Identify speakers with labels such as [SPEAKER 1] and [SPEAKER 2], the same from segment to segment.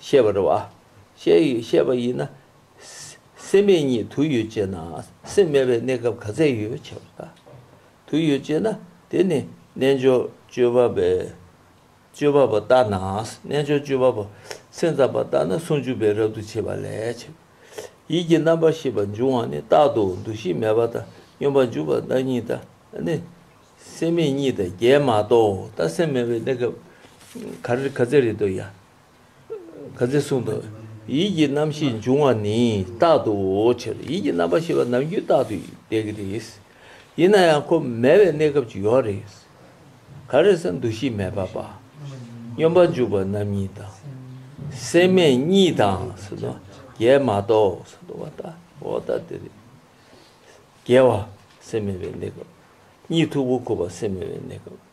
[SPEAKER 1] ཤེས་པར་བྱ། ཤེས་པ་ཡིན་ན། སེམས་མེད་ཉིད་དུ་ཡོད་ཅེ་ན། སེམས་མེད་པའི་གནས་སྐབས་ག་ཚད་ཡོད་བྱ་བ་དང། དུ་ཡོད་ཅེ་ན། དེ་ནི་རྣལ་འབྱོར་སྤྱོད་པ་པས་སྤྱོད་པ་པོ་ལྟ་ན། རྣལ་འབྱོར་སྤྱོད་པ་པོ་སེམས་ཙམ་པ་ལྟ་ན་ཟུང་འཇུག་པའི་རབ་ཏུ་བྱེད་པ་ལས་བྱེད་པ། ཡིད་ཀྱི་རྣམ་པར་ཤེས་པ་འབྱུང་བ་ནི་རྟག་ཏུ་འདུ་ཤེས་མེད་པ་དང་སྙོམས་པར་འཇུག་པ་བདག་ཉིད་ལྟ་ནི། སེམས་མེད་ཉིད་དང་བརྒྱད་མ་གཏོགས་ལྟ་སེམས་མེད་པའི་གནས་སྐབས་ག་ཚད་རེ་ལྟོས་ཡང། ག་ཚེ་གསུང་དུ། ཡིད་ཀྱི་རྣམ་ཤེས་འབྱུང་བ་ནི་རྟག་ཏུའོ་ཕྱིར་ཡིད་ཀྱི་རྣམ་པར་ཤེས་པ་ནམ་རྒྱུན་རྟག་ཏུ་བདེ་གི་རེད། ཡིན་ན་ཡང་ཁོ་མེད་པའི་གནས་སྐབས་ཅིག་ཡོད་རེད། ག་རེ་ས་འདུ་ཤེས་མེད་པ་པདྨ་སྙོམས་པར་འཇུག་པ་རྣམ་གཉིས་དང། སེམས་མེད་གཉིས་དང་ཟེར་ནོ། རྒྱལ་མ་གཏོགས་ཟེར་ནོ། བ་ཏའོ་ད་དེ་རེད། རྒྱལ་བ་སེམས་མེད་པའི་གནས་སྐབས། གཉིད་འཐུག་པོ་ཁུག་པ་སེམས་མེད་པའི་གནས་སྐབས།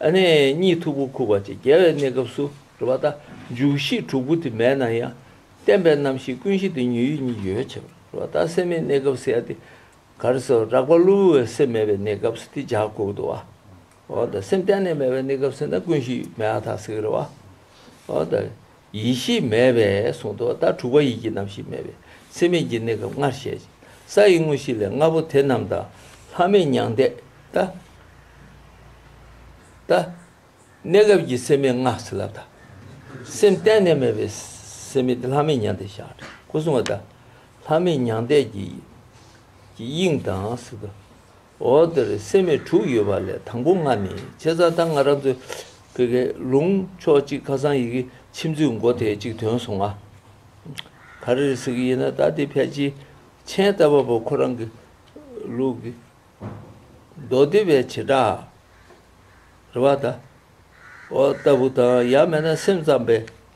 [SPEAKER 1] གནས་གཉིས་འཐུག་པོ་ཁུག་པ་བཅས་རྒྱལ་བའི་གནས་སྐབས་སུ་རུ་བ་དང་འཇུག་གཞི་དྲུག་པོ་དེ་མེད་ན་ཡང། བསྟན་པའི་རྣམ་ཤེས་ཀུན་གཞི་དེ་ཉོན་ཡིད་གཉིས་ཡོད་བྱེད་པར་རུ་བ་དང་སེམས་མེད་གནས་སྐབས་སེ་ཡ་སྟེ། གར་སོ་རགས་པ་གློ་བུར་བའི་སེམས་མེད་པའི་གནས་སྐབས་སུ་དེ་འཇག་ཁུག་ཏུ་བ། འོ་ད་སེམས་གཏན་ནས་མེད་པའི་གནས་སྐབས་སེ་ན་ཀུན་གཞི་མེད་བ་ཐག་སེ་གེ་རུ་བ། འོ་ད། ཡེ་ཤེས་མེད་པས་གསུངས་ཏོ། ད་དྲུག་པ་ཡིད་ཀྱི་རྣམ་ཤེས་མེད་པས་ཚད་མེད་ཀྱི་གནས་སྐབས་ལྔར་བཤད། ས་ཡི་དངོས་གཞི་ལས་ལྔ་པོ་དེ་རྣམས་དང། ལྷ་མིན་མྱང་འདས་དང། གནས་སྐབས་ཀྱི་སེམས་མེད་ལྔ་ཚེ་ལ་དང། སེམས་གཏན་ནས་མེད་པའི་སེམས་མེད་དེ་ལྷ་མིན་མྱང་འདས་ཞེས་ཨ་ཏྲི་ཀོ་གསུང་བ་དང། ལྷ་མིན་མྱང་འདས་ཀྱི་དབྱིངས་དང། འོག་དེར་སེམས་མེད་དྲུག་ཡོད་པ་ལས་དང་པོ་ལྔ་ནི་ཆེ་ཚ་དང་ང་རབ་ཏུ་ཀེ་ཀེ་ལུང་ཕྱོགས་གཅིག་ཁ་སང་ཡི་གེ་ཕྱི་མཛོད་མགོ་དེ་གཅིག་དོན་སོང་ང། ག་རེ་རེད་ཟེར་གི་ཡིན་ན་ད་དེ་ཕལ་ཆེའི་མཆན་བལྟ་བ་པོ་ཁོ་རང་གི་ལུགས་ཀྱི་མདོ་སྡེ་བའི་བྱེ་བྲག་རེད་བ་ད། འོག་ལྟ་བུ་དང་ཡང་མེད་ན་སེམས་ཙམ་པའི་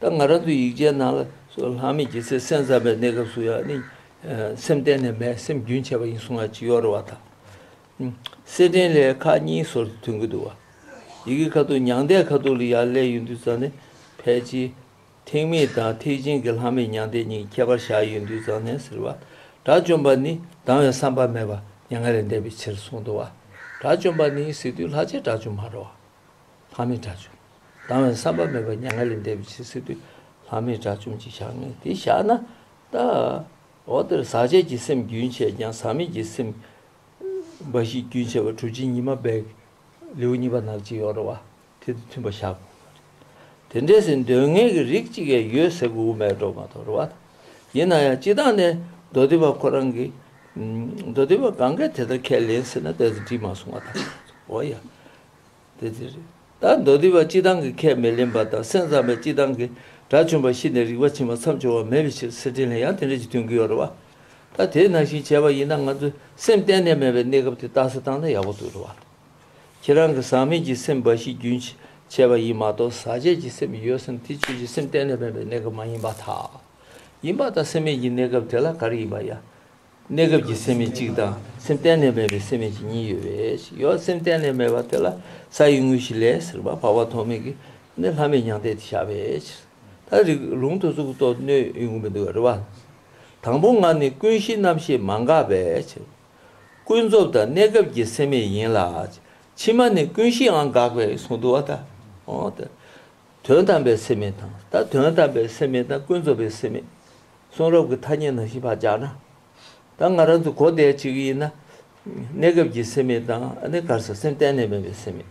[SPEAKER 1] ད་ང་རང་ཚོའི་ཡིག་ཆའི་ནང་ལ་སོགས་ལྷག་མེད་ཀྱི་ཚེ་སེམས་ཙམ་པའི་གནས་སྐབས་སུ་ཡང་ནི། སེམས་གཏན་ནས་མེད་སེམས་རྒྱུན་ཆད་པ་ཡིན་གསུང་ང་ཅི་ཡོག་རེད་བ་ད། སེར་སྦྲེང་ལས་ཁ་གཉིས་ཟོར་དུ་ཐོན་གི་འདུག་བ། ཡི་གེ་ཁ་ཐུག་མྱང་འདས་ཁ་ཐུག་ལ་ཡང་ལས་ཡོད་འདུག་ཙང་ནས་ཕལ་ཆེ། ཐེག་དམིགས་དང་ཐེག་ཆེན་གྱི་ལྷག་མེད་མྱང་འདས་གཉིས་ཁྱད་པར་བཞག་ཡོད་འདུག་ཙང་ནས་ཟེར་བ། དགྲ་བཅོམ་པ་ནི་སྡང་བའི་བསམ་པ་མེད་པ་མྱ་ངན་ལས་འདས་པའི་ཕྱིར་གསུང་འདུག་བ། དགྲ་བཅོམ་པ་ནི་སྲིད་དུས་ལྷག་ཆད་དགྲ་བཅོམ་མ་རོ། ལྷ་མི་དགྲ་བཅོམ། སྡང་བའི་བསམ་པ་མེད་པ་མྱ་ངན་ལས་འདས་པའི་ཕྱིར་སྲིད་པའི་ལྷ་མི་དགྲ་བཅོམ་གྱིས་བཞག་ནས་དེ་བཞག་ན་བལྟ། འོ་དེར་ཟག་བཅས་ཀྱི་སེམས་རྒྱུན་ཆད་ཀྱང་ཟག་མེད་ཀྱི་སེམས་འབའ་ཞིག་རྒྱུན་ཆད་པ་གྲུ་ཆེན་ཉི་མ་བད་ཀན་ལེའུ་གཉིས་པ་ནག་ཅིག་ཡོ་ར་བ་དེ་དང་མཐུན་པར་བཞག་གོ། དེ་འདྲའི་སེམས་དོན་ངེས་ཀྱི་རིགས་གཅིག་ཡང་ཡོད་ཟེར་དགོས་མེད་འགྲོ་མ་དོར་བ་དང། ཡིན་ན་ཡང་སྤྱི་དང་ནས་མདོ་སྡེ་པ་ཁོ་རང་གིས། མདོ་སྡེ་པ་གང་གིས་དེ་ལྟར་ཁས་ལེན་ཟེར་ན་དེ་ལྟར་བྲིས་མ་སོང་བ་དང་འོ་ཡ། དེ་ལྟར་རེད། ད་མདོ་སྡེ་པ་སྤྱི་བཏང་གི་ཁས་མི་ལེན་པ་དང་སེམས་ཙམ་པའི་སྤྱི་བཏང་གིས་དགྲ་བཅོམ་པ་ཤི་ནས་རིག་པ་ཕྱིན་པ་མཚམས་སྦྱོར་བ་མེད་པའི་ཕྱིར་སེར་སྦྲེང་ལས་ཡང་དེ་འདྲ་ཞིག་སྟོན་གྱི་ཡོད་རེད་བ། ད་དེ་ནང་བཞིན་བྱས་པ་ཡིན་ན་ང་ཚོའི་སེམས་གཏན་ནས་མེད་པའི་གནས་སྐབས་དེ་རྟགས་སུ་བཏང་ན་ཡག་པོ་འདུག་རེད་བ། ཁྱེད་རང་གི་ཟག་མེད་ཀྱི་སེམས་འབའ་ཞིག་རྒྱུན་བྱས་པ་ཡིན་མ་གཏོགས་ཟག་བཅས་ཀྱི་སེམས་ཡོད་སེམས་དེ་ཆོས་ཀྱི་སེམས་གཏན་ནས་མེད་པའི་གནས་སྐབས་མ་ཡིན་པ་དག་ཡིན་པ་དང་སེམས་མེད་ཀྱི་གནས་སྐབས་དེ་ལ་ག་རེ་ཡིན་པ་ཡང་གནས་སྐབས་ཀྱི་སེམས་མེད་གཅིག་དང་སེམས་གཏན་ནས་མེད་པའི་སེམས་མེད་ཅིག་གཉིས་ཡོད་པས་ཡོད་སེམས་གཏན་ནས་མེད་པ་དེ་ལ་ས་ཡི་དངོས་གཞི་ལས་ཟེར་བ་བར་བར་དོ་མེད་ཀྱི་ནི་ལྷ་མེད་མྱང་འདས་དེ་བཞག་པའི་ཕྱིར། ད་རིགས་ལུང་དུ་གཟུགས་སོགས་སྣོད་ཡོད་ངོ་མི་འདུག་པར་རེ་བ། དང་པོ་ངག་ནི་ཀུན་གཞི་རྣམ་ཤེས་མ་འགགས་པའི་ཕྱིར། ཀུན་རྫོབ་དང་གནས་སྐབས་ཀྱི་སེམས་མེད་ཡིན་ལ། ཕྱི་མ་ནི་ཀུན་གཞིའང་འགགས་པས་གཟུང་དུ་བ་དང། དོན་དམ་པའི་སེམས་མེད་དང་ད་དོན་དམ་པའི་སེམས་མེད་དང་ཀུན་རྫོབ་པའི་སེམས་མེད། གསུང་རབ་ཀྱི་ཐ་སྙད་ནང་བཞིན་བག་ཆགས་ན། ད་ང་རང་ཚོ་གོ་བདེ་ཅིག་ཡིན་ན། གནས་སྐབས་ཀྱི་སེམས་མེད་དང་ཨ་ནེ་ཀར་ས་སེམས་གཏན་ནས་མེད་པའི་སེམས་མེད།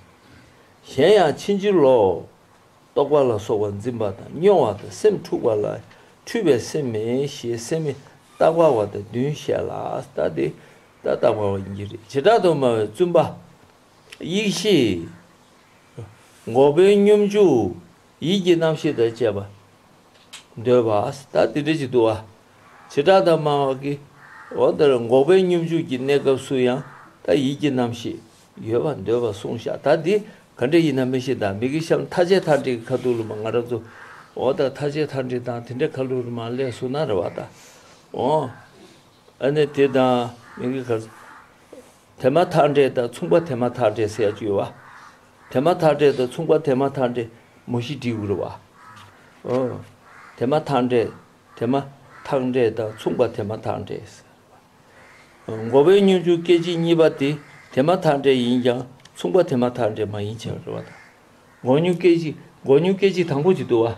[SPEAKER 1] གཞན་ཡང་ཕྱིན་ཅི་ལོག། རྟོག་པ་ལ་སོགས་པ་འཛིན་པ་དང་སྨྱོ་བ་དང་སེམས་འཁྲུགས་པ་ལ་འཁྲུལ་པའི་སེམས་མེད་ཞེས་སེམས་མི་རྟག་པ་བ་དང་བདུན་བཤད་ལ་ད་འདི་ད་རྟག་པ་བ་ཡིན་གྱི་རེད་བྱེ་བྲག་ཏུ་སྨྲ་བའི་བཙུན་པ། ཡེ་ཤེས། འགོག་པའི་སྙོམས་འཇུག། ཡིད་ཀྱི་རྣམ་ཤེས་དང་བཅས་པ། འདོད་པ་ཨཱས་ད་དེ་འདྲས་ཅིག་འདུག་ཨཱ། བྱེ་བྲག་དང་སྨྲ་བ་ཀི། འོ་དེར་འགོག་པའི་སྙོམས་འཇུག་གི་གནས་སྐབས་སུ་ཡང་ད་ཡིད་ཀྱི་རྣམ་ཤེས་ཡོད་པར་འདོད་པར་གསུངས་ཤག་ད་འདི་ག་འདྲས་ཡིན་ན་མི་ཤེས་ད་མིག་གི་ཤམ་ཐ་ཆད་ཐ་འདྲེ་གི་ཁ་ཐུག་ལུ་མ་ང་ར་ཙུ། འོ་ད་ཐ་ཆད་ཐ་འདྲེ་དང་དེ་འདྲས་ཁ་ལུ་རུ་མ་ཀླད་སུ་ན་ར་བ་ད། འོ་ཨཱ་ནི་དེ་དང་མིག་གི་ཁར། དེ་མ་ཐག་འབྲས་དང་མཚུངས་པ་དེ་མ་ཐག་འབྲས་ཟས་སྤྱོད་བ། དེ་མ་ཐག་འབྲས་དང་མཚུངས་པ་དེ་མ་ཐག་འབྲས་མོ་བཞི་དྲི་དབུལ་བ། འོ། དེ་མ་ཐག་འབྲས་དེ་མ་ཐག་འབྲས་དང་མཚུངས་པ་དེ་མ་ཐག་འབྲས་ཟས་སྤྱོད་བ། མགོ་བོའི་སྙུན་འཇུག་སྐད་ཅིག་གཉིས་པ་དེ་དེ་མ་ཐག་འབྲས་ཡིན་ཀྱང་མཚུངས་པ་དེ་མ་ཐག་འབྲས་མ་ཡིན་ཕྱིར་རོ། བ་དང། མགོ་སྙུན་སྐད་ཅིག་མགོ་སྙུན་སྐད་ཅིག་དང་པོ་གཅིག་ཏུ་བ།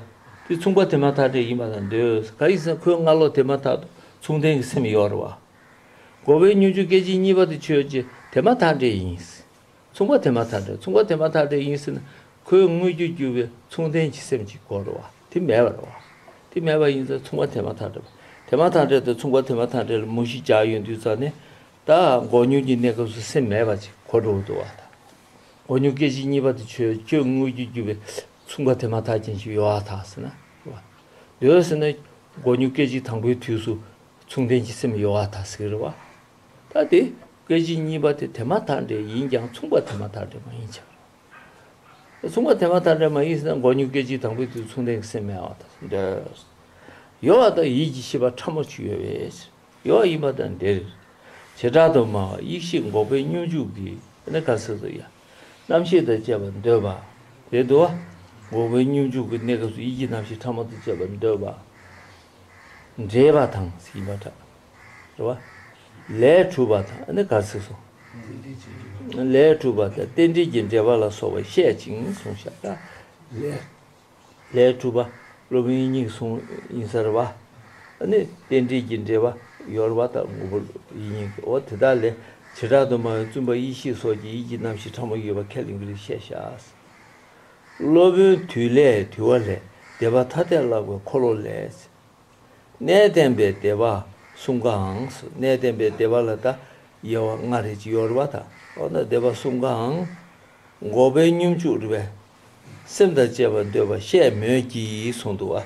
[SPEAKER 1] དེ་མཚུངས་པ་དེ་མ་ཐག་འབྲས་ཡིན་པ་དང་འདོད། ག་ཡིག་ཟེར་ན་ཁོའི་སྔ་ལོགས་དེ་མ་ཐག་ཏུ་མཚུངས་ལྡན་གྱི་སེམས་ཡོད་རེད་བ། འགོ་བའི་སྙུན་ཆུང་སྐད་ཅིག་གཉིས་པ་དེ་ཆོས་རྗེ་དེ་མ་ཐག་འདྲེ་ཡིན། མཚུངས་པ་དེ་མ་ཐག་འདྲེ་མཚུངས་པ་དེ་མ་ཐག་འདྲེ་ཡིན་ཟེར་ན་ཁོའི་དངོས་རྒྱུ་རྒྱུ་བའི་མཚུངས་ལྡན་གྱི་སེམས་ཀྱི་སྐོར་རོ། དེ་མེད་པར་རོ། དེ་མེད་པ་ཡིན་ཙང་མཚུངས་པ་དེ་མ་ཐག་འདྲེ་པ་དེ་མ་ཐག་འདྲེ་དང་མཚུངས་པ་དེ་མ་ཐག་འདྲེ་ལ་མུ་བཞི་འཇགས་ཡོད་དུས་ཙང་ནས་ད་འགོ་སྙུན་གྱི་གནས་སྐབས་སུ་སེམས་མེད་པ་ཅིག་གོ་འགྲོ་བ་འདུག་བ་དང། འགོ་སྙུན་སྐད་ཅིག་གཉིས་པ་དེ་ཆོས་རྗེ་དངོས་རྒྱུ་རྒྱུ་བའི་མཚུངས་པ་དེ་མ་ཐག་ཅན་ཞིག་ཡོད་ཨ་ཐག་ཟེར་ན་རེ་བ། འདོད་ཟེར་ན་འགོ་སྙུན་སྐད་ཅིག་དང་པོའི་དུས་སུ། མཚུངས་ལྡན་གྱི་སེམས་གཡོ་བ་དང་ཟིག་རི་བ། ད་དེ་སྐད་གཅིག་གཉིས་པ་དེ་དེ་མ་ཐག་འདྲེ་ཡིན་ཀྱང་མཚུངས་པ་དེ་མ་ཐག་འདྲེ་མ་ཡིན་ཆགས་རེད། མཚུངས་པ་དེ་མ་ཐག་འདྲེ་མ་ཡིན་ཟེར་ན་མགོ་སྙུག་སྐད་གཅིག་དང་པོའི་དུས་མཚུངས་ལྡན་གྱི་སེམས་མེད་བ་དང་འདྲེས། གཡོ་བ་དང་ཡིད་ཀྱི་ཤེས་པ་ཕྲ་མོ་གཅིག་ཡོད་བས་གཡོ་བ་ཡིན་པ་དང་འདྲེ་རེད། བྱེ་བྲག་ཏུ་སྨྲ་བ་ཡིད་ཤེས་འགོག་པའི་སྙོམས་འཇུག་གིས་ནི་ག་ཟེར་དུ་ཡ། རྣམ་ཤེས་དང་བཅས་པར་འདོད་པ། དེ་དུ་བ། འགོག་པའི་སྙོམས་འཇུག་གི་གནས་སྐབས་སུ་ཡིད་ཀྱི་རྣམ་ཤེས་ཕྲ་མོ་དང་བཅས་པར་འདོད་པ། འདྲེས་པ་དང། ཡིན་པར་གྲགས། རེ་བ། ལས་གྲུབ་པ་དང། འདི་གར་ཚིགས་སོ། ལས་གྲུབ་པ་དང་རྟེན་འབྲེལ་གྱི་འབྲེལ་པ་ལ་སོགས་པ་བཤད་ཅིང་གསུངས་ཤ་སྟག། ལས་གྲུབ་པ། སློབ་དཔོན་གཉིས་གསུངས་ཡིན་ས་རེ་བ། ནི་རྟེན་འབྲེལ་གྱི་འབྲེལ་པ་ཡོར་བ་དང་ངོ་བོ་ཡིན་ཡིན་གྱི་འོ་དེ་དག་ལས་བྱེ་བྲག་ཏུ་སྨྲ་བའི་བཙུན་པ་ཡེ་ཤེས་སོགས་ཀྱི་ཡིད་ཀྱི་རྣམ་ཤེས་ཕྲ་མོ་ཡོད་པ་ཁས་ལེན་གྱི་རིགས་བཤད་ཤ་ཟ། སློབ་དཔོན་དུས་ལས་དུས་བ་ལས་བདེ་བ་ཐ་དད་བཀླག་པའི་འཁོར་ལོ་ལས། གནས་བརྟན་པའི་བདེ་བ་གསུམ་ཀའང་གནས་བརྟན་པའི་བདེ་བ་ལ་ད་ཡེ་བ་ལྔ་རེ་གཡོར་བ་དང་འོག་ན་བདེ་བ་གསུམ་ཀའང། འགོག་པའི་སྙོམས་འཇུག་རུལ་བས་སེམས་དང་བཅས་པ་འདོད་པ་བཤད་མོད་ཀྱི་གསུང་དུ་བ།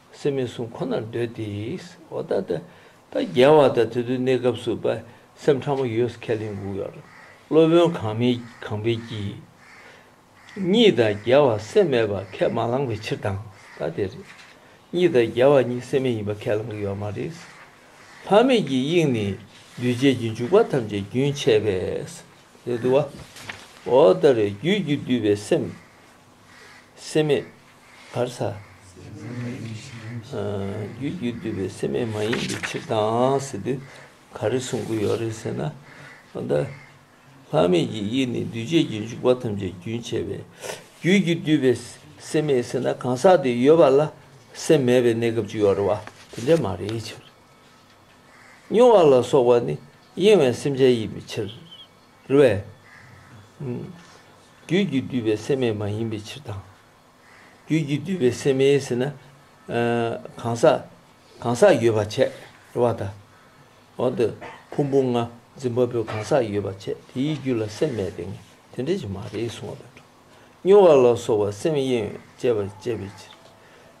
[SPEAKER 1] སེམས་མི་བསྲུང་ཁོ་ནར་འདོད་དེ། འོ་ད་ད། ད་རྒྱལ་བ་དང་དེ་ཚོའི་གནས་སྐབས་སུ་པ་སེམས་ཕྲ་མོ་ཡོད་ཁས་ལེན་འགུགས་ཡོད། སློབ་དཔོན་གང་མི་གང་འཕེལ་གྱིས། གཉིས་དང་རྒྱལ་བ་སེམས་མེད་པ་ཁས་མ་བླངས་པའི་ཕྱིར་དང་ད་དེར། གཉིས་དང་རྒྱལ་བ་གཉིས་སེམས་མེད་ཡིན་པ་ཁས་བླངས་ཀྱི་ཡོད་མ་རེད། ལྷ་མེད་ཀྱི་དབྱིངས་ནི་འདུས་བྱས་ཀྱི་འཇུག་པ་ཐམས་ཅད་རྒྱུན་ཆད་པས། རེད་དུ་བ། འོ་ད་རེ་རྒྱུད་ཀྱིས་བསྡུས་པའི་སེམས། སེམས་མེད་བར་ས། རྒྱུའི་རྒྱུས་བསྡུས་པའི་སེམས་མེད་མ་ཡིན་པའི་ཕྱིར་དང་ཟེར་དུས་ག་རེ་གསུང་གི་ཡོད་རེད་ཟེར་ན། ད་ལྟ་ལྷག་མེད་ཀྱི་ཡིད་ནི་འདུས་བྱས་ཀྱི་འཇུག་པ་ཐམས་ཅད་རྒྱུན་ཆད་པས་རྒྱུའི་རྒྱུས་བསྡུས་པའི་སེམས་མེད་ཟེར་ན་གང་ཟག་དེ་ཡོད་པ་ལ་སེམས་མེད་པའི་གནས་སྐབས་ཅིག་ཡོད་རེད་བ་དེ་འདྲས་མ་རེད་ཕྱིར། མྱོང་བ་ལ་སོགས་པ་ནི་གཡེང་བའི་སེམས་ཅན་ཡིན་པའི་ཕྱིར། རེ་བས། རྒྱུད་ཀྱིས་བསྡུས་པའི་སེམས་མེད་མ་ཡིན་པའི་ཕྱིར་དང། རྒྱུད་ཀྱིས་བསྡུས་པའི་སེམས་མེད་ཟེར་ན། གང་ཟག་གང་ཟག་ཡོད་པར་འཆད་རེ་བ་དང། འོག་ཏུ་ཕུང་པོ་ལྔ་འཛིན་པ་པོའི་གང་ཟག་ཡོད་པར་འཆད་དེའི་རྒྱུད་ལ་སེམས་མེད་པས་ངེས་དོན་འབྲེལ་གྱི་མ་རེད་གསུང་བ་དང་འདྲ། སྨྱོ་བ་ལ་སོགས་པ་སེམས་དབྱེ་ཡོན་བཅད་པར་བཅད་པའི་ཕྱིར།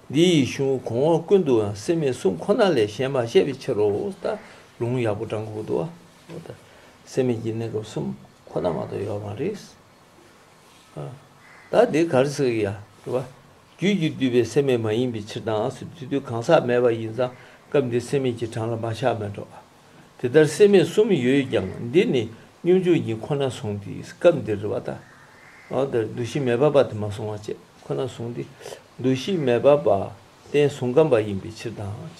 [SPEAKER 1] འདི་ཡི་གཞུང་ལུགས་གོང་འོག་ཀུན་ཏུའང་སེམས་མེད་གསུམ་ཁོ་ན་ལས་གཞན་མ་བཤད་པའི་ཕྱིར་རོ། ལྟ་ལུང་ཡག་པོ་བགྲང་གོ་བསྡུ་བ། སེམས་མེད་ཀྱི་གནས་སྐབས་གསུམ་ཁོ་ན་མ་གཏོགས་ཡོད་མ་རེད། ད་འདི་གར་སོ་ཡ་རེད། རྒྱུད་ཀྱིས་བསྡུས་པའི་སེམས་མེད་མ་ཡིན་པའི་ཕྱིར་དྭངས་སུ་དེ་དུས་གང་ཟག་མེད་པ་ཡིན་ཙང་སྐབས་འདིར་སེམས་མེད་ཀྱི་གྲངས་ལ་མ་ཆགས་མི་འགྲོ། དེ་ལྟར་སེམས་མེད་གསུམ་ཡོད་ཀྱང་འདི་ནི་སྙོམས་འཇུག་ཉིད་ཁོ་ན་བཟུང་སྟེ་སྐབས་འདིར་རེ་བ་དང། འདུ་ཤེས་མེད་པ་བ་དེ་མ་བཟུང་བ་བཅས་ཁོ་ན་བཟུང་སྟེ། འདུ་ཤེས་མེད་པ་བ་རྟེན་བཟུང་སྐབས་འབའ་ཡིན་པའི་ཕྱིར་དྭངས།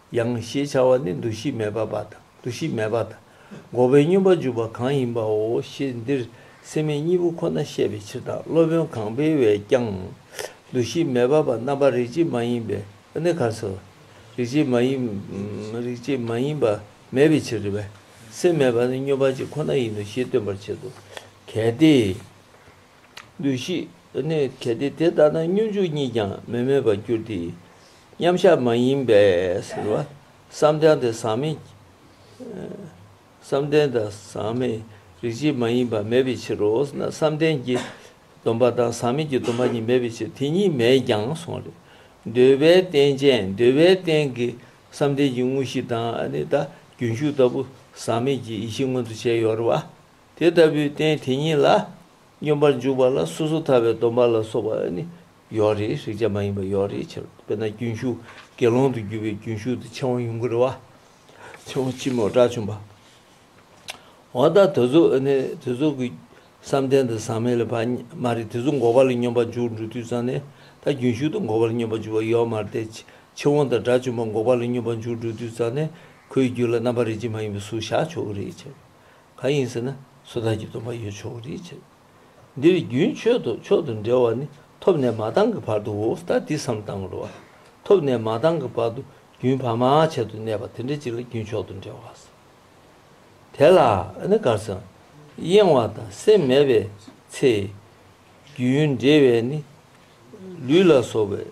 [SPEAKER 1] ཡང་ཞེས་བྱ་བ་ནི་འདུ་ཤེས་མེད་པ་པ་དང་འདུ་ཤེས་མེད་པ་དང་འགོག་པའི་སྙོམས་པར་འཇུག་པ་གང་ཡིན་པའོ་ཞེས་འདིར་སེམས་མེད་གཉིས་པོ་ཁོ་ན་བཤད་པའི་ཕྱིར་དང་སློབ་དཔོན་གང་པའི་བས་ཀྱང། འདུ་ཤེས་མེད་པ་པ་རྣམ་པར་རིག་བྱེད་མ་ཡིན་པས་ནི་ག་སོ། རིག་བྱེད་མ་ཡིན། རིག་བྱེད་མ་ཡིན་པ་མེད་པའི་ཕྱིར་རེ་བས་སེམས་མེད་པ་ནི་སྙོམས་པར་བྱེད་ཁོ་ན་ཡིན་ནོ་ཞེས་སྟོན་པར་བྱེད་དོ། གལ་ཏེ། ལུས་ཤིག། ནི་གལ་ཏེ་དེ་ལྟ་ན་སྙོམས་འཇུག་གཉིས་ཀྱང་མི་མེད་པར་འགྱུར་ཏེ། མཉམ་གཞག་མ་ཡིན་པས་ཟེར། བསམ་གཏན་དང་ཟག་མེད་རིག་བྱེད་མ་ཡིན་པ་མེད་པའི་ཕྱིར་རོ། བསམ་གཏན་གྱི་སྡོམ་པ་དང་ཟག་མེད་ཀྱི་སྡོམ་པ་གཉིས་མེད་པའི་ཕྱིར་དེ་གཉིས་མེད་ཀྱང་གསུངས་ལ། འདོད་པའི་རྟེན་ཅན་འདོད་པའི་རྟེན་གྱི་བསམ་གཏན་གྱི་དངོས་གཞི་དང། རྒྱུན་ཞུགས་ལྟ་བུ་ཟག་མེད་ཀྱི་ཡེ་ཤེས་མངོན་དུ་བྱས་ཡོད་རེད་བ། དེ་ལྟ་བུའི་རྟེན་དེ་ཉིད་ལ་སྙོམས་པར་འཇུག་པ་ལ་སོ་སོ་ཐར་བའི་སྡོམ་པ་ལ་སོགས་པ་ནི་ཡོད་རེ་ཞིག་ཅེས་མ་ཡིན་པ་ཡོད་རེ་ཕྱིར་རོ། དཔེར་ན་རྒྱུན་ཞུགས་དགེ་སློང་དུ་གྱུར་པའི་རྒྱུན་ཞུགས་དེ་ཕྱིང་བ་ཡུངས་ཀར་བ། ཕྱིང་བ་ལྕི་མོ་དགྲ་བཅོམ་པ། འོ་ད་དེ་ཚོ་ནི་དེ་ཚོ་གི་བསམ་གཏན་དང་ཟག་མེད་ལ་བར་མ་རེད་དེ་ཚོ་འགོག་པ་ལ་སྙོམས་པར་འཇུག་འགྲོ་དུས་ཙམ་ནས་ད་རྒྱུན་ཞུགས་དང་འགོག་པ་ལ་སྙོམས་པར་འཇུག་པ་ཡོད་མ་རེད་དེ་ཕྱིང་བ་དང་དགྲ་བཅོམ་པ་འགོག་པ་ལ་སྙོམས་པར་འཇུག་འགྲོ་དུས་ཙམ་ནས་ཁོའི་རྒྱུད་ལ་རྣམ་པ་རེ་ཅེས་མ་ཡིན་པ་སུ་བཞག་ཆོག་གི་རེད་ཕྱིར་རོ། གང་ཡིན་ཟེར་ན་སོ་ཐར་གྱི་སྡོམ་པ་ཡོད་ཆོག་གི་རེད་ཅེས། འདིར་རྒྱུན་མཆོད་དུ་མཆོག་ཏུ་འབྲེལ་བ་ནི་ཐོབ་ནས་མ་བཏང་གི་བར་དུའོ་ད་འདི་བསམ་བཏང་གི་རུ་བ། ཐོབ་ནས་མ་བཏང་གི་བར་དུ་རྒྱུན་བར་མ་ཆད་དུ་གནས་པ་དེ་འདྲ་ཅིག་ལ་རྒྱུན་མཆོག་ཏུ་འབྲེལ་བ་ཟེར། དེ་ལ་ནི་གར་སོང་གཡེང་བ་དང་སེམས་མེད་པའི་ཚེ། རྒྱུན་འབྲེལ་བས་ནི་ལུས་ལ་སོགས་པའི།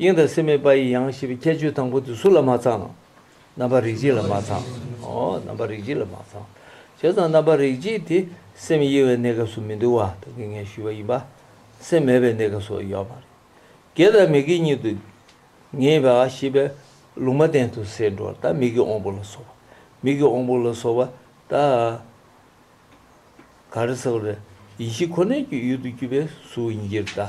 [SPEAKER 1] དབྱིངས་དང་སེམས་མེད་པ་ཡི་ཡང་ཞེས་པའི་ཁྱད་ཆོས་དང་པོ་དེ་སུ་ལ་མ་ཚང། རྣམ་པར་རིག་བྱེད་ལ་མ་ཚང། རྣམ་པར་རིག་བྱེད་ལ་མ་ཚང། བྱས་ཙང་རྣམ་པར་རིག་བྱེད་དེ་སེམས་དབྱེ་བའི་གནས་སྐབས་སུ་མི་འདུ་བ་བདག་གིས་ངས་ཞུས་པ་ཡིན་པ། སེམས་མེད་པའི་གནས་སྐབས་སུ་ཡོད་པ་རེད། དགེ་དང་མི་དགེ་ཉིད་དུ། ངེས་པ་ཞེས་པའི་ལུང་མ་བསྟན་དུ་ཟེར་འགྲོ་བ་ལྟ་མིག་གི་དབང་པོ་ལ་སོགས་པ། མིག་གི་དབང་པོ་ལ་སོགས་པ་ལྟ། ག་རེ་ཟེར་བ་རེད། ཡེ་ཤེས་ཁོ་ནའི་ཡུལ་དུ་གྱུར་པའི་གཟུགས་དབྱིབས་འདི་ལྟ།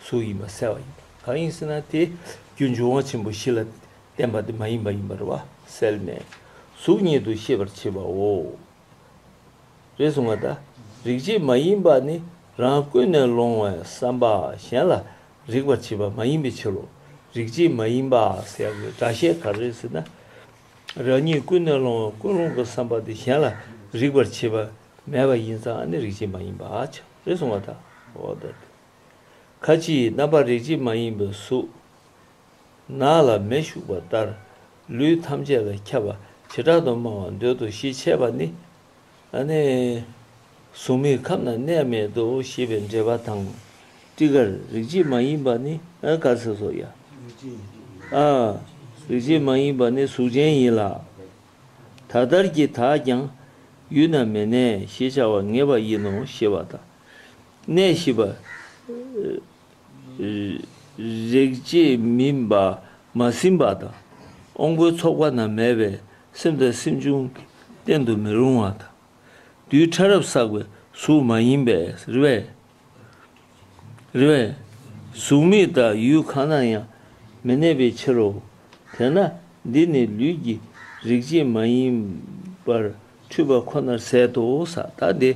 [SPEAKER 1] གཟུགས་ཡིན་པ་གསལ་བ་ཡིན་པ་གང་ཡིན་ཟེར་ན་དེ་རྒྱུ་འབྱུང་བ་ཆེན་པོ་བཞི་ལ་བརྟེན་པ་དེ་མ་ཡིན་པ་ཡིན་པར་བ་གསལ་ནས་གཟུགས་ཉིད་དུ་ཤེས་པར་བྱེད་པའོ། རེད་སོང་ང་ད། རིག་བྱེད་མ་ཡིན་པ་ནི་རང་ཀུན་ནས་སློང་བའི་བསམ་པ་གཞན་ལ་རིག་པར་བྱེད་པ་མ་ཡིན་པའི་ཕྱིར་རོ། རིག་བྱེད་མ་ཡིན་པ་ཟེར་བའི་སྒྲ་བཤད་ག་རེ་ཟེར་ན། རང་ཉིད་ཀུན་ནས་སློང་བའི་ཀུན་སློང་གི་བསམ་པ་དེ་གཞན་ལ་རིག་པར་བྱེད་པ་མེད་པ་ཡིན་ཙང་ནི་རིག་བྱེད་མ་ཡིན་པ་བྱ། རེད་སོང་ང་ད། ཁ་ཅིག་རྣམ་པར་རིག་བྱེད་མ་ཡིན་པའི་གཟུགས། ནགས་ལ་མེ་ཞུགས་པ་ལྟར་ལུས་ཐམས་ཅད་ལ་ཁྱབ་པ་བྱེ་བྲག་ཏུ་སྨྲ་བར་འདོད་དོ་ཞེས་འཆད་པ་ནི། གཟུགས་མེད་ཁམས་ན་གནས་མེད་དོ་ཞེས་པའི་འགྲེལ་པ་དང། སྤྲི་དཀར་རིག་བྱེད་མ་ཡིན་པ་ནི་དཀར་སེར་སོགས་ཡ། རིག་བྱེད་མ་ཡིན་པ་ནི་གཟུགས་ཅན་ཡིན་ལ། ད་ལྟར་གྱི་དག་ཀྱང་ཡུལ་ན་མེད་ནས་ཞེས་བྱ་བར་ངེས་པ་ཡིན་ནོ་ཞེས་པ་དང། གནས་བཞི་པ། རེག་བྱས་མི་མ་ཟིན་པ་དང། ཨོང་བུའི་ཚོགས་པ་རྣམས་མེད་པས་སེམས་དང་སེམས་བྱུང་གི་རྟེན་དུ་མི་རུང་བ་དང། རྡུལ་ཕྲ་རབ་བསགས་པའི་གཟུགས་མ་ཡིན་པས་རེ་བས། གཟུགས་མེད་དང་ཡུལ་གང་ན་ཡང་མི་གནས་པའི་ཕྱིར་རོ། དེས་ན་འདི་ནི་ལུས་ཀྱི་རེག་བྱས་མ་ཡིན་པར་འཁྲུལ་པ་ཁོ་ནར་ཟད་དོ། ད་དེ་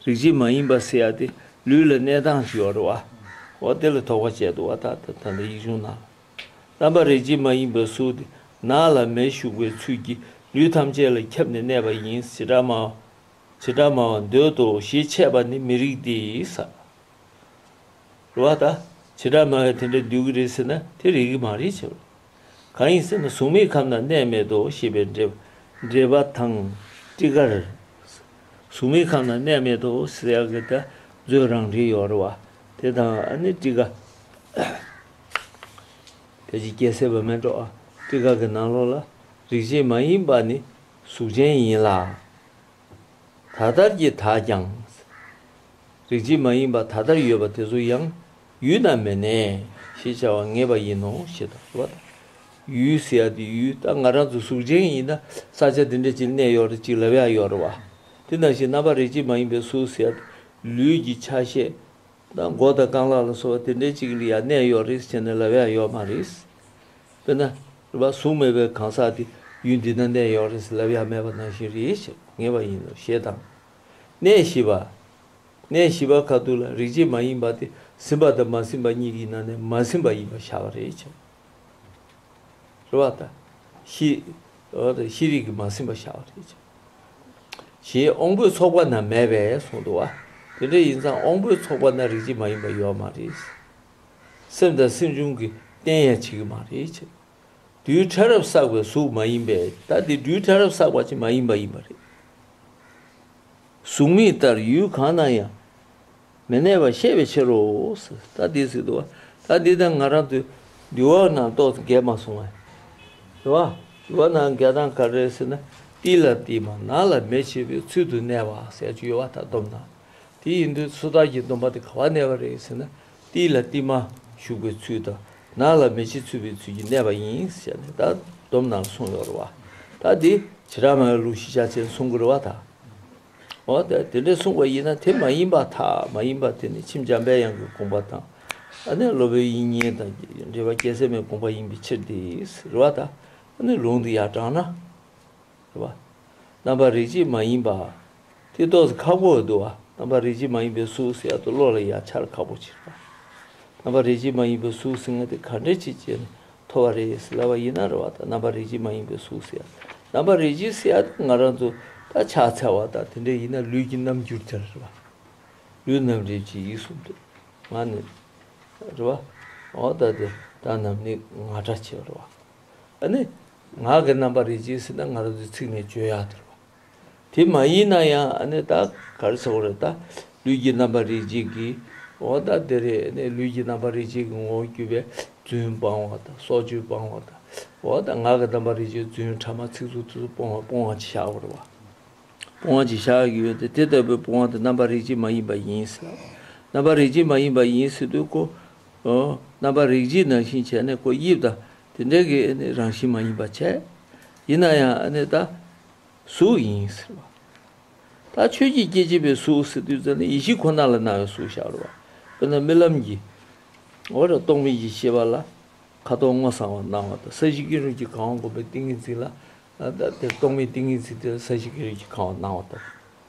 [SPEAKER 1] རིག་བྱེད་མ་ཡིན་པ་སེ་ཡ་སྟེ་ལུས་ལ་གནས་དང་ཞུ་བར་བ། འོ་དེ་ལ་ཐོགས་པ་བཅད་དོ་བ་ད་ད་ད་ད་ཡིག་ཆུང་ནང་ལ། རྣམ་པར་རིག་བྱེད་མ་ཡིན་པ་གཟུགས་དེ་ནག་ལ་མེ་ཞུགས་པའི་ཚུལ་གྱིས་ལུས་ཐམས་ཅད་ལ་ཁྱབ་ནས་གནས་པ་ཡིན་བྱེ་བྲག་སྨྲ་བ། བྱེ་བྲག་སྨྲ་བ་འདོད་དོ་ཞེས་འཆད་པ་ནི་མི་རིགས་ཏེ་ས་རུ་བ་ད། བྱེ་བྲག་སྨྲ་བས་དེ་འདྲ་འདོད་ཀྱི་རེད་ཟེར་ན་དེ་རིགས་ཀྱི་མ་རེད་བྱས་པ་ལ། གང་ཡིན་ཟེར་ན་གཟུགས་མེད་ཁམས་ན་གནས་མེད་དོ་ཞེས་པའི་འགྲེལ་པ་དང། སྤྲི་དཀར། གཟུགས་མེད་ཁམས་ན་གནས་མེད་དོ་ཟེར་ཡག་གི་ད་གཟོད་རང་འགྲེལ་ཡོད་རེད་བ། དེ་དང་ཨ་ནི་སྤྲི་དཀར། ཁྱེད་ཀྱིས་སྐྱེ་སྲེད་པ་མེད་འགྲོ་ཨ། སྤྲི་དཀར་གྱི་ནང་ལོགས་ལ་རིག་བྱེད་མ་ཡིན་པ་ནི་གཟུགས་ཅན་ཡིན་ལ། ད་ལྟར་གྱི་དག་ཀྱང། རིག་བྱེད་མ་ཡིན་པ་ད་ལྟར་ཡོད་པ་དེ་ཚོ་ཡང་ཡུལ་དང་མེད་ནས་ཞེས་བྱ་བར་ངེས་པ་ཡིན་ནོ་ཞེས་དང་བ་དང། ཡུལ་ཟེར་ཡ་དེ་ཡུལ་ད་ང་རང་ཚོ་གཟུགས་ཅན་ཡིན་ན་ས་ཆ་དེ་འདྲ་ཅིག་གནས་ཡོད་རེད་ཅིག་ལབ་ཡག་ཡོད་རེད་བ། དེ་ནང་བཞིན་རྣམ་པ་རིག་བྱེད་མ་ཡིན་པའི་གཟུགས་ཟེར་ཡ་དེ་ལུས་ཀྱི་ཆ་ཤས་དང་མགོ་དང་རྐང་ལག་ལ་སོགས་པ་དེ་འདྲ་ཅིག་ལ་ཡང་གནས་ཡོད་རེད་ཟེར་ནས་ལབ་ཡག་ཡོད་མ་རེད། དཔེར་ན། རུ་པ་གཟུགས་མེད་པའི་གང་ཟག་དེ་ཡུལ་འདི་ན་གནས་ཡོང་རེས་ལབ་ཡག་མེད་པ་ནང་བཞིན་རེ་ཞིག་ངེས་པ་ཡིན་ནོ་ཞེས་དང། གནས་བཞི་པ། གནས་བཞི་པ་ཁ་ཐུག་ལ་རིག་བྱེད་མ་ཡིན་པ་དེ་ཟིན་པ་དང་མ་ཟིན་པ་གཉིས་ཀྱི་ནང་ནས་མ་ཟིན་པ་ཡིན་པར་བཞག་པ་རེ་བྱ། རུ་བ་དང། ཤེས་རིག་གི་མ་ཟིན་པ་བཞག་པ་རེ་བྱ། ཞེས་དབང་པོའི་ཚོགས་པ་ན་མེད་པས་གསུངས་འདུག་བ། དེ་འདྲ་ཡིན་ཙང་དབང་པོའི་ཚོགས་པ་ན་རིག་བྱེད་མ་ཡིན་པ་ཡོད་མ་རེད། སེམས་དང་སེམས་བྱུང་གི་རྟེན་ཡང་བྱེད་ཀྱི་མ་རེད་ཅེ། རྡུལ་ཕྲ་རབ་བསགས་པའི་གཟུགས་མ་ཡིན་པས་ད་འདི་རྡུལ་ཕྲ་རབ་བསགས་པ་ཅན་མ་ཡིན་པ་ཡིན་པ་རེད། གཟུགས་མེད་ལྟར་ཡུལ་གང་ན་ཡང་མི་གནས་པར་ཤེས་པའི་ཕྱིར་རོ། ད་འདི་སྲིད་དུ་བ་ད་འདི་དང་ང་རང་དུ་འདུལ་བ་རྣམས་རྟོག་འགལ་མ་སོང་ངས། དུ་བ་འདུལ་བ་རྣམས་འགལ་དང་ག་རེ་ཟེར་ན་ཏིལ་ལ་ཏིལ་མ་ནག་ལ་མེ་བྱེད་པའི་ཚུལ་དུ་གནས་པ་ཟེར་གྱི་ཡོད་བ་ད་སྡོམ་དང། དེ་ཡིན་དུས་ཚོད་དཔག་གི་སྡོམ་པ་དེ་ག་བར་གནས་པ་རེད་ཟེར་ན། ཏིལ་ལ་ཏིལ་མ་ཞུགས་པའི་ཚུལ་དང་ནགས་ལ་མེ་ལྕེ་ཚུད་པའི་ཚུལ་གྱིས་གནས་པ་ཡིན་ཞེས་ནས་ད་དོམ་ནང་གསུངས་ཡོད་རེད་བ། ད་དེ་བྱེ་བྲག་མའི་ལུགས་ཤེས་བྱ་ཅན་གསུང་གི་རེད་བ་ད། འོ་ད་དེ་འདྲས་གསུངས་པ་ཡིན་ན་དེ་མ་ཡིན་པ་དག་མ་ཡིན་པ་དེ་ནི་མཆིམས་འཇམ་དཔལ་དབྱངས་ཀྱི་དགོངས་པ་དང་ཨ་ནེ་སློབ་དཔོན་དབྱིག་གཉེན་དང་འབྲེལ་བ་སྐྱེད་ཚལ་མའི་དགོངས་པ་ཡིན་པའི་ཕྱིར་དེ་རེད་བ་ད། ཨ་ནི་ལུང་དུ་ཡང་དྲངས་ན། རེད་པ། རྣམ་པར་རིག་བྱེད་མ་ཡིན་པ། ཐིག་ཏོག་སི་ཁག་པོ་འོད་དུ་བ། རྣམ་པར་རིག་བྱེད་མ་ཡིན་པའི་གཟུགས་སི་ཡག་ཏུ་བློ་ལ་ཡང་འཆར་ཁག་པོ་ཕྱིར་བ། རྣམ་པར་རིག་བྱེད་མ་ཡིན་པའི་གཟུགས་སི་ང་དེ་ག་འདྲའི་ཆེ་བྱས་ནས་མཐོ་བ་རེད་སི་ལ་བ་ཡིན་ན་རེད་བ་དང་རྣམ་པར་རིག་བྱེད་མ་ཡིན་པའི་གཟུགས་སི་ཡག་རྣམ་པར་རིག་བྱེད་སི་ཡག་དེ་ང་རང་ཚོ་ད་ཆ་ཚལ་བ་དང་དེ་འདྲ་ཡིན་ན་ལུས་ཀྱི་རྣམ་འགྱུར་དེ་རེད་བ། ལུས་རྣམ་རིག་བྱེད་ཡིག་གསུམ་དེ་ང་ནི་རེད་བ། འོ་ད་དེ་ད་རྣམས་ནི་ང་འདྲ་ཆེ་བ་རེད་བ། ཨ་ནི། ངག་གི་རྣམ་པར་རིག་ཅིང་སྲིད་ན་ངག་འདིས་ཚིག་ནི་བརྗོད་ཡང་དེར་བ། དེ་མ་ཡིན་ན་ཡང་ཨ་ནི་ད་གར་ཟེར་བ་རེད་ད། ལུས་ཀྱི་རྣམ་པར་རིག་ཅིང་གི། འོ་ད་དེ་རེད་ཨ་ནི་ལུས་ཀྱི་རྣམ་པར་རིག་ཅིང་གི་ངོ་བོ་བརྒྱུད་པའི་བརྫུན་སྤང་བ་ད་སྲོག་གཅོད་སྤང་བ་ད། འོ་ད་ངག་གི་རྣམ་པར་རིག་ཅིང་བརྫུན་ཕྲ་མ་ཚིག་རྩུབ་ཚིག་རྩུབ་སྤོང་བ་སྤོང་བ་གྱི་བྱ་བ་རེད་བ། སྤོང་བ་གྱི་བྱ་བ་ཡོད་དེ་དེ་ལྟ་བུའི་སྤོང་བ་དེ་རྣམ་པར་རིག་ཅིང་མ་ཡིན་པ་ཡིན་སྲིད། རྣམ་པར་རིག་ཅིང་མ་ཡིན་པ་ཡིན་སྲིད་དུས་ཀོ། རྣམ་པར་རིག་བྱེད་ནང་བཞིན་བྱས་ནས་སྐོ་དབྱིབས་དང་དེ་འདྲའི་གི་རང་བཞིན་མ་ཡིན་པར་བྱས། ཡིན་ན་ཡང་ད་གཟུགས་ཡིན་ཟེར་བ། ད་ཆོས་ཀྱི་སྐྱེ་མཆེད་པའི་གཟུགས་ཟེར་དུས་ཙནི་ཡེ་ཤེས་ཁོ་ན་ལ་སྣང་བའི་གཟུགས་བཞག་རོགས། དཔེར་ན་རྨི་ལམ་གྱི་རྟོག་མེད་ཀྱི་ཤེས་པ་ལ་ཁ་དོག་སྔོ་སངས་བ་སྣང་བ་དང་ས་གཞི་ཀེང་རུས་ཀྱི་ཁང་བ་བསྒོམ་པའི་ཏིང་ངེ་འཛིན་ལ་དེར་རྟོག་མེད་ཏིང་ངེ་འཛིན་དེ་ས་གཞི་ཀེང་རུས་ཀྱི་ཁང་བ་སྣང་བ་དང།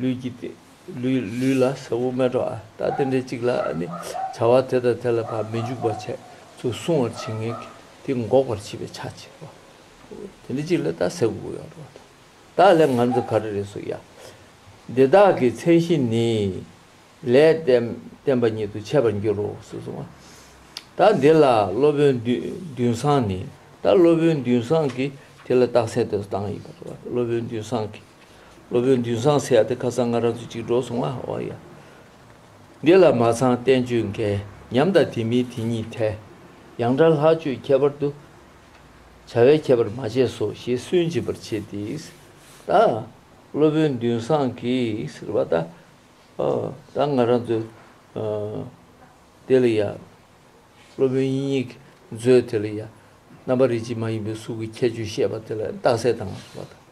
[SPEAKER 1] ལུས་ཀྱི། ལུས་ལ་ཟ་བུ་སྨད་འགྲོ་ཨ་ད་དེ་འདྲའི་ཅིག་ལ་ནི། བྱ་བ་དེ་དང་དེ་ལ་བར་མི་འཇུག་པར་བྱས་ཚུལ་གསུང་བར་བྱེད་ངེས་ཀྱི། དེ་འགོག་པར་བྱེད་པའི་ཆ་བྱེད་པ། དེ་འདྲའི་ཅིག་ལ་ད་ཟ་བུ་ཡང་འགྲོ་བ་དང། ད་ལས་ང་ཚོ་ག་རེ་རེ་སོ་ཡ། འདི་དག་གི་མཚན་གཞི་ནི། ལས་བསྟན་པ་ཉིད་དུ་འཆད་པར་འགྱུར་རོ་ཞེས་གསུང་བ། ད་འདི་ལ་སློབ་དཔོན་བདུན་བཟང་ནི། ད་སློབ་དཔོན་བདུན་བཟང་གིས་དེ་ལ་རྟགས་གསལ་དེ་སོ་བཏང་ཡིན་པར་སློབ་དཔོན་བདུན་བཟང་གིས། སློབ་དཔོན་འདུན་བཟང་སེ་ཡ་དེ་ཁ་སང་ང་རང་ཚོ་གཅིག་འགྲོགས་སོང་ང་ཨོ་ཡ། འདི་ལ་མ་ཚང་བསྟན་བཅོས་འགལ་ཉམས་དང་དེ་མིན་དེ་གཉིས་ཐལ། ཡང་དགྲ་ལྷག་སྤྱོད་ཁྱད་པར་དུ། བྱ་བའི་ཁྱད་པར་མ་བྱས་སོ་ཞེས་སུན་འབྱིན་པར་བྱེད་དེ། ད་སློབ་དཔོན་འདུན་བཟང་གིས་ཟེར་བ་ད་ཨོ་ད་ང་རང་ཚོ་དེ་ལ་ཡ། སློབ་དཔོན་ཡིན་ཡིན་གིས་མཛོད་དེ་ལ་ཡ། རྣམ་པ་རིག་བྱེད་མ་ཡིན་པའི་གཟུགས་ཀྱི་ཁྱད་ཆོས་བཤད་པ་དེ་ལ་རྟགས་གསལ་དང་ཟེར་བ་དང།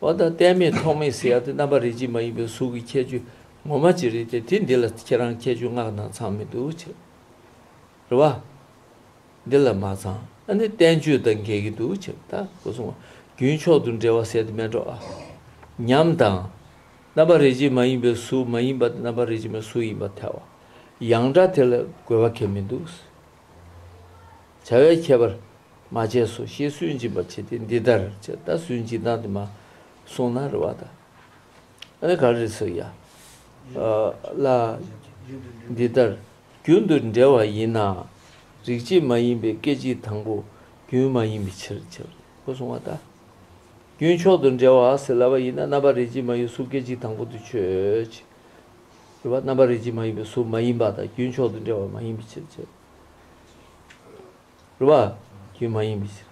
[SPEAKER 1] བ་དང་གཏད་མེད་ཐོགས་མེད་ཟེར་ཡག་དེ་རྣམ་པ་རིག་བྱེད་མ་ཡིན་པའི་གཟུགས་ཀྱི་ཁྱད་ཆོས་ངོ་མ་ཅི་རེད་དེ་དེ་འདི་ལ་ཁྱེད་རང་ཁྱད་ཆོས་སྔགས་ནང་ཚང་མི་འདུག་ཕྱི་རུ་བ། འདི་ལ་མ་ཚང་ཨ་ནི་བསྟན་བཅོས་དང་འགལ་གྱི་འདུག་ཕྱི་རུ་ད་གོ་སོང་བ་རྒྱུན་མཆོག་ཏུ་འགྲེལ་བ་ཟེར་དེ་མེད་འགྲོ་ཨ། ཉམས་དང། རྣམ་པ་རིག་བྱེད་མ་ཡིན་པའི་གཟུགས་མ་ཡིན་པ་དེ་རྣམ་པ་རིག་བྱེད་མའི་གཟུགས་ཡིན་པར་ཐལ་བ། ཡང་སྒྲ་དེ་ལ་རྒོལ་བ་ཁས་མི་འདུག། བྱ་བའི་ཁྱད་པར་མ་བྱས་སོ་ཞེས་སུན་འབྱིན་པར་བྱེད་དེ་འདི་ལྟར་ཅི་ལྟར་སུན་འབྱིན་སྟངས་དེ་མ་གསུངས་ན་རེ་བ་དང། ཨ་ནི་ག་རེ་ཟེར་ཡ། ལ། འདི་ལྟར་རྒྱུན་དུ་འབྲེལ་བ་ཡིན་ན་རིག་བྱེད་མ་ཡིན་པའི་སྐད་ཅིག་དང་པོ་རྒྱུན་མ་ཡིན་པའི་ཕྱིར་ཕྱིར་ཁོ་གསུང་བ་ལྟར། རྒྱུན་མཆོག་ཏུ་འབྲེལ་བ་ཟེར་ལ་བ་ཡིན་ན་རྣམ་པར་རིག་བྱེད་མ་ཡོད་གཟུགས་སྐད་ཅིག་དང་པོ་དུ་ཆོས་ཅི། རེ་བ་རྣམ་པར་རིག་བྱེད་མ་ཡིན་པའི་གཟུགས་མ་ཡིན་པ་དང་རྒྱུན་མཆོག་ཏུ་འབྲེལ་བ་མ་ཡིན་པའི་ཕྱིར་བྱེད་དོ། རེ་བ། རྒྱུན་མ་ཡིན་པའི་ཕྱིར།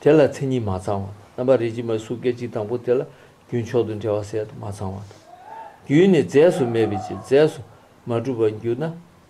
[SPEAKER 1] དེ་ལ་མཚན་ཉིད་མ་ཚང་བ་དང་རྣམ་པར་རིག་བྱེད་མའི་གཟུགས་སྐད་ཅིག་དང་པོ་དེ་ལ་རྒྱུན་མཆོག་ཏུ་འབྲེལ་བ་གསལ་དུ་མ་ཚང་བ་དང། རྒྱུན་ནི་རྫས་སུ་མེད་པའི་ཕྱིར་རྫས་སུ་མ་གྲུབ་པར་འགྱུར་ན་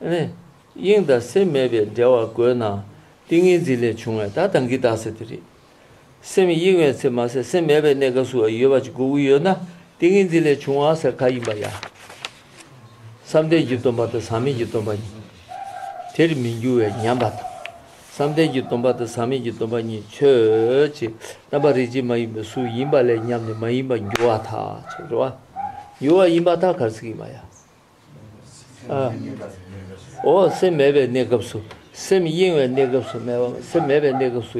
[SPEAKER 1] དབྱིངས་དང་སེམས་མེད་པའི་འབྲེལ་བ་དགོས་ན་ཏིང་ངེ་འཛིན་ལས་བྱུང་བས་ད་དང་གིས་བཏགས་ཟེར་དེ་རེད། སེམས་དབྱིངས་བའི་ཚེ་མ་ཟད་སེམས་མེད་པའི་གནས་སྐབས་སུ་ཡོད་པ་ཅིག་དགོས་ཀྱི་ཡོད་ན་ཏིང་ངེ་འཛིན་ལས་བྱུང་བ་ཟེར་ག་ཡིན་པ་ཡ། བསམ་གཏན་གྱི་སྟོན་པ་དང་ཟག་མེད་ཀྱི་སྟོན་པ་གཉིས་དེར་མི་འགྱུར་བའི་ཉམས་པ་དང། བསམ་གཏན་གྱི་སྟོན་པ་དང་ཟག་མེད་ཀྱི་སྟོན་པ་གཉིས་ཆོས་ཀྱི་རྣམ་པ་རིག་བྱེད་མ་ཡིན་པའི་གཟུགས་ཡིན་པ་ལས་ཉམས་ནི་མ་ཡིན་པར་འགྱུར་བ་དག་འགྱུར་བ་ཡིན་པ་དག་གར་ཟེར་གི་མ་ཡ། འོ་སེམས་མེད་པའི་གནས་སྐབས་སུ་སེམས་གཡེང་བའི་གནས་སྐབས་སུ་སེམས་མེད་པའི་གནས་སྐབས་སུ་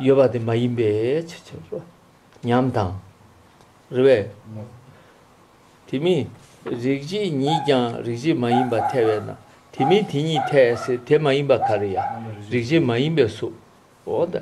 [SPEAKER 1] ཡོད་པ་དེ་མ་ཡིན་པས་ཕྱི་ཕྱིར་རོ། ཉམས་དང། རེ་བས། དེ་མིན་རིག་བྱེད་ཉིད་ཀྱང་རིག་བྱེད་མ་ཡིན་པ་ཐལ་བས་ན་དེ་མིན་དེ་ཉིད་ཐལ། དེ་མ་ཡིན་པ་ག་རེ་ཡ། རིག་བྱེད་མ་ཡིན་པའི་གཟུགས།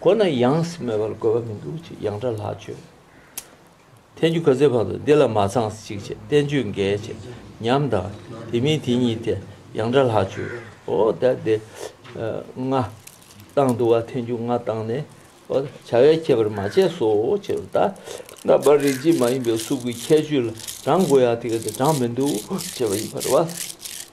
[SPEAKER 1] ཁོ་ན་ཡང་སྨྲས་པར་དགོས་པ་མི་འདུག་ཅེས་ཡང་དགྲ་ལྷག་བཅོས། ཐལ་འགྱུར་ག་ཚོད་བར་དུ་འདི་ལ་མ་ཚངས་ཤིག་ཅེས་བསྟན་བཅོས་འགལ་བྱེད་ཉམས་དང་དེ་མིན་དེ་ཉིད་དེ་ཡང་དགྲ་ལྷག་བཅོས། འོ་ད་དེ་ང་བཏང་འདུག་བ་ཐལ་འགྱུར་ང་བཏང་ནས་འོ་ད་བྱ་བའི་ཁྱད་པར་མ་བྱས་སོ་ཅེས་པ་ལྟར་ན་བར་རིག་བྱེད་མ་ཡིན་པའི་གཟུགས་ཀྱི་ཁྱད་ཆོས་ལ་བགྲང་དགོས་ཡ་དེ་ག་དེ་བགྲང་མི་འདུག་ཅེས་པ་ཡིན་པར་བ།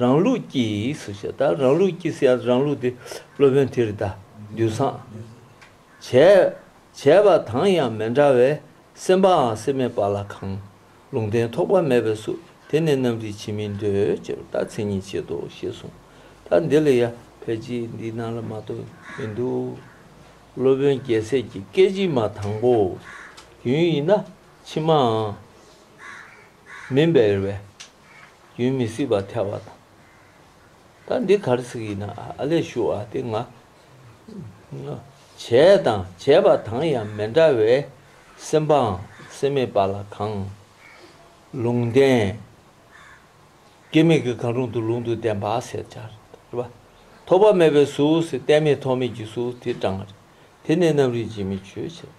[SPEAKER 1] རང་ལུགས་ཀྱིས་སུ་བྱེད་ད་རང་ལུགས་ཀྱིས་སུ་རང་ལུགས་དེ་སློབ་དཔོན་དེར་གདའ། རྡུལ་སངས། བྱས་པ་དང་ཡང་མི་འདྲ་བས་སེམས་པའང་སེམས་མེད་པ་ལ་གང། ལུང་བསྟན་ཐོགས་པ་མེད་པས་སུ་དེ་ནི་རྣམ་རིག་བྱེད་མིན་འདོད་ཅེས་པ་ལྟར་མཚན་ཉིད་བྱེད་དོ་ཞེས་གསུངས། ད་འདི་ལ་ཡང་ཕལ་ཆེར་འདི་སྣང་ལ་མ་གཏོགས་མི་འདུག། སློབ་དཔོན་རྒྱལ་སྲས་ཀྱི་སྐད་ཅིག་མ་དང་པོ། རྒྱུན་ཡིན་ན་ཕྱི་མའང། མིན་པའི་བའི། རྒྱུན་མི་སྲིད་པར་ཐལ་བ་དང། ད་འདི་གར་ཚིག་ཡིན་ན་ཨ་ཨ་ལས་ཞུ་ཨ་སྟེ་ང། བྱས་དང་བྱས་པ་དང་ཡང་མི་འདྲ་བའི། སེམས་པའང་སེམས་མེད་པ་ལ་གང། ལུང་བསྟན། སྐྱེ་མེད་ཀྱི་གང་རུང་དུ་ལུང་དུ་བསྟན་པ་ཟེར་བྱ། རེད་པ། ཐོགས་པ་མེད་པའི་གཟུགས། བསྟན་མེད་ཐོགས་མེད་ཀྱི་གཟུགས་དེ་བགྲང། དེ་ནི་རྣམ་རིག་འབྱེད་མེད་ཆོས་བྱེད།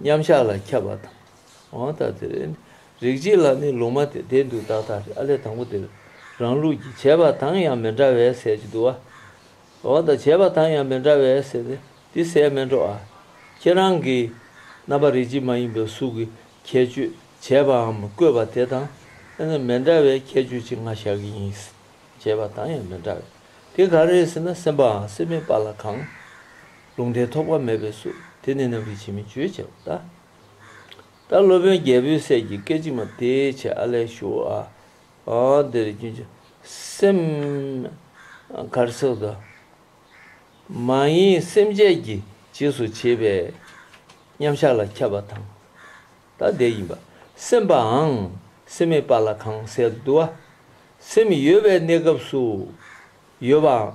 [SPEAKER 1] མཉམ་གཞག་ལ་ཁྱབ་པ་དང། འོང་དང་དེ་རེད། རིག་བྱེད་ལ་ནི་ལུང་མ་དེ་བདེན་འདུག་དག་དག་རེད་ཨ་ལས་དང་པོ་དེར་རང་ལུགས་ཀྱི་བྱས་པ་དང་ཡང་མི་འདྲ་བའི་ཟས་ཀྱི་དུ་བ། འོང་དང་བྱས་པ་དང་ཡང་མི་འདྲ་བའི་ཟས་དེ་འདི་ཟས་མིན་འགྲོ་ཨ། ཁྱེད་རང་གིས། རྣམ་པ་རིག་བྱེད་མ་ཡིན་པའི་གཟུགས་ཀྱི་ཁྱད་ཆོས་བྱས་པའམ་བཀོད་པ་དེ་དང་ཡང་མི་འདྲ་བའི་ཁྱད་ཆོས་ཅི་ང་བཞག་གི་ཡིན། བྱས་པ་དང་ཡང་མི་འདྲ་བའི་དེ་ག་རེད་ཟེར་ན་སེམས་པའང་སེམས་མེད་པ་ལ་གང། ལུང་དེ་ཐོགས་པ་མེད་པས་སུ་དེ་ནི་རྣམ་རིག་བྱེད་མི་བརྗོད་ཅེས་པ་ལྟར། ད་སློབ་དཔོན་རྒྱལ་པོའི་སྲས་ཀྱི་སྐད་ཅིག་མ་དེའི་ཆེད་ཨ་ལས་ཞུ་བ། འདིར་རྒྱུན་གྱི་སེམས། གར་སོགས་དུ་མ་ཡིན་སེམས་བསྐྱེད་ཀྱི་རྗེས་སུ་བྱེད་པས་མཉམ་གཞག་ལ་ཁྱབ་པ་དང། ད་ལྟའི་ཡིན་པ་སེམས་པའང་སེམས་མེད་པ་ལ་གང་གསལ་དུ་བསྡུ་བ། སེམས་ཡོད་པའི་གནས་སྐབས་སུ་ཡོད་པའང།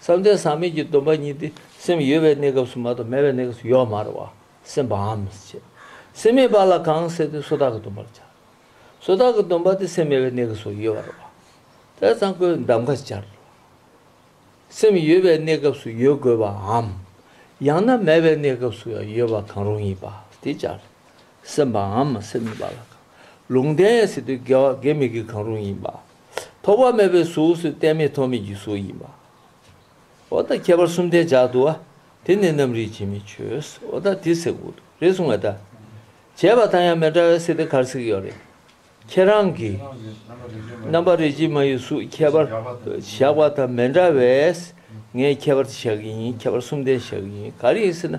[SPEAKER 1] བསམ་གཏན་ཟག་མེད་ཀྱི་སྡོམ་པ་ཉིད་དེ་སེམས་ཡོད་པའི་གནས་སྐབས་སུ་མ་གཏོགས་མེད་པའི་གནས་སྐབས་སུ་ཡོད་མ་རུང་བ་སེམས་པའམ། སེམས་མེད་པ་ལ་གང་ཟེར་དུས་སོ་དག་གི་སྡོམ་པར་བྱ། སོ་དག་གི་སྡོམ་པ་དེ་སེམས་མེད་པའི་གནས་སྐབས་སུ་ཡོད་པར་རུང་བ། དེར་ཚང་བཀོད་གདམས་ཀ་སྦྱར་རོ། སེམས་ཡོད་པའི་གནས་སྐབས་སུ་ཡོད་དགོས་པའམ། ཡང་ན་མེད་པའི་གནས་སྐབས་སུ་ཡང་ཡོད་པ་གང་རུང་ཡིན་པ་དེ་སྦྱར། སེམས་པའམ་སེམས་མེད་པ་ལ་གང། ལུང་བསྟན་ཡང་ཟེར་དུས་དགེ་བ་དགེ་མི་དགེ་གང་རུང་ཡིན་པ། ཐོགས་པ་མེད་པའི་གཟུགས་སུ་བསྟན་མེད་ཐོགས་མེད་ཀྱི་གཟུགས་ཡིན་པ། འོ་ད་ཁྱད་པར་གསུམ་ལྡན་ཇག་ཏུ་བ། དེ་ནི་རྣམ་རིག་འབྱེད་མེད་ཆོས། འོ་ད་དེ་སྲེག་བུ་དུ་རེད་གསུང་བ་ད། བྱས་པ་དང་ཡང་མི་འདྲ་བའི་སྲེག་དེ་གར་སྲེག་ཡོད་རེད། ཁྱེད་རང་གིས། རྣམ་པ་རིག་བྱེད་མ་ཡི་གཟུགས་ཁྱད་པར་ཇག་པ་དང་མི་འདྲ་བས། ངས་ཁྱད་པར་དེ་བཞག་གི་ཡིན་ཁྱད་པར་གསུམ་ལྡན་བཞག་གི་ཡིན་ག་རེ་ཡིན་ཟེར་ན་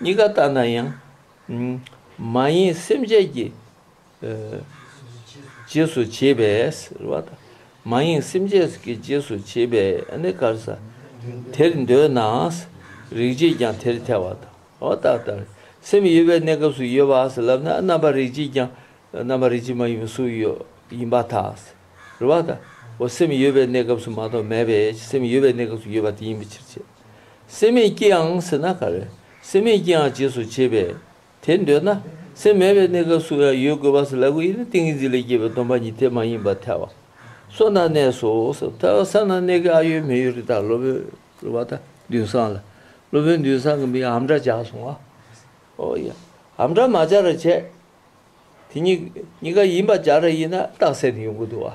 [SPEAKER 1] གཉིས་ཀ་ལྟ་ན་ཡང་མ་ཡིན་སེམས་ཅན་གྱི་རྗེས་སུ་བྱེད་པས་རེ་བ་དང། མ་ཡིན་སེམས་ཅན་གྱི་རྗེས་སུ་བྱེད་པས་ནི་དཀར་ས། དེར་འདོད་ན་རིག་བྱེད་ཀྱང་དེར་ཐལ་བ་དང་བ་ལྟར་ལྟར། སེམས་ཡོད་པའི་གནས་སྐབས་སུ་ཡོད་པ་ལབ་ན་རྣམ་པར་རིག་བྱེད་ཀྱང་རྣམ་པར་རིག་བྱེད་མ་ཡིན་པའི་གཟུགས་ཡིན་པ་དང་རེ་བ་དང་བ། སེམས་ཡོད་པའི་གནས་སྐབས་སུ་མ་གཏོགས་མེད་པས་སེམས་ཡོད་པའི་གནས་སྐབས་སུ་ཡོད་པ་དེ་ཡིན་པའི་ཕྱིར་བྱེད། སེམས་མེད་ཀྱིའང་ཟེར་ན་ག་རེ། སེམས་མེད་ཀྱིའང་རྗེས་སུ་བྱེད་པས། དེ་འདོད་ན། སེམས་མེད་པའི་གནས་སྐབས་སུ་ཡང་ཡོད་དགོས་པ་སོགས་ལ་གོ་ཡིན་ན་ཏིང་ངེ་འཛིན་ལས་སྐྱེས་པའི་སྡོམ་པ་ཉིད་དེ་མ་ཡིན་པར་ཐལ་བ། སོ་ན་གནས་སོ། ཐལ་བ་ས་ན་གནས་ཀྱི་ཨ་ཡོད་མེ་ཡོད་རི་དྭགས་སློབ་དཔོན་སློབ་པ་དང་མདུན་སངས་ལ། སློབ་དཔོན་མདུན་སངས་ཀྱི་མིང་ཧམ་སྒྲ་བྱས་སོང་ངོ། ཨོ་ཡ། ཧམ་སྒྲ་མ་བྱ་ར་བྱས། དེ་གཉིས་གཉིས་ཀ་ཡིན་པ་བྱ་ར་ཡིན་ན་རྟགས་གསལ་དུ་ཡོང་གི་འདུག་བ།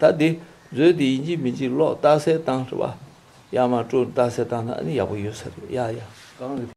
[SPEAKER 1] བྱ། ད་དེ་བཟོས་ཏེ་ཡིན་གྱི་མིན་གྱི་ལོག་ལྟ་སེ་བཏང་རེད་བ། ཡ་མ་སྤྲོ་ལྟ་སེ་བཏང་ན་ཡག་པོ་ཡོད་ས་རེད་ཡ་ཡ།